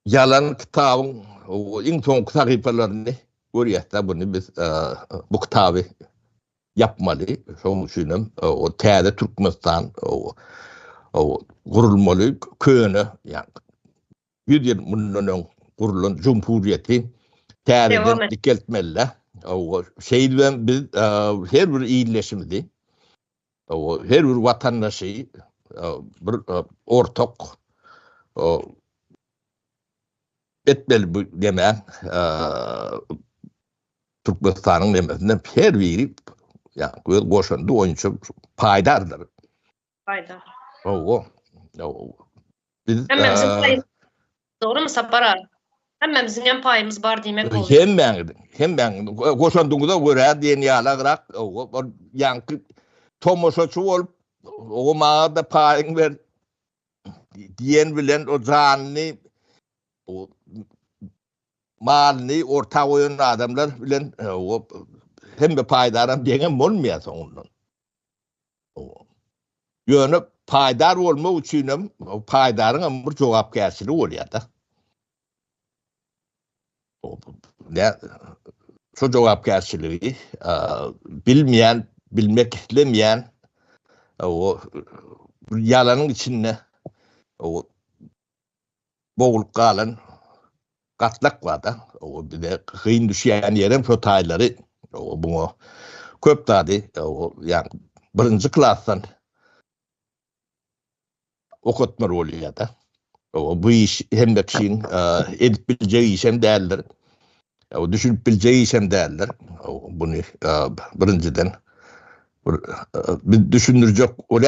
Ýalan kitabyň iň soňky sahypalaryny görýäs-de, buny biz bu kitaby ýapmaly. Şonuň üçin hem o täze Türkmenistan gurulmaly, köne, ýagny ýüz ýyl mundan öň gurulan jumhuriýeti täzeden dikeltmeli-de. Şeýdibem biz her bir ildeşimizi Her bir watandaşy bir ortak etmeli bu neme Türkmenistanyň nemesinde her biri yani göz goşandy boýunça paýdardyr. Paýdar. Owo. Owo. Biz Dogrymy Sapar aga? Hemmämiziňem paýymyz bar diýmek bolýar. Hemmäňiziň, hemmäň goşandyňyza görä diýen ýalagrak bir ýaňky tomaşaçy bolup, oňa maňa-da paýyňy ber diýen bilen o janyny, o malyny orta goýan adamlar bilen hemme paýdaram deňem bolmaýar soňundan. Ýöne paýdar bolmak üçin hem paýdaryň hem bir jogapkärçiligi bolýar-da. Şu jogapkärçiligi bilmeýän, bilmek islemeýän o ýalanyň içinde o boglup galan gatlak bar-da, o bize gyn düşýän ýerem şo taýlary muňa köp zady ýa birinji klasdan okatmaly bolýar-da. Bu iş hemme kişiň edip biljek işem däldir. Düşünip biljek işem däldir. Muny birinjiden bir düşündirjek bolýar.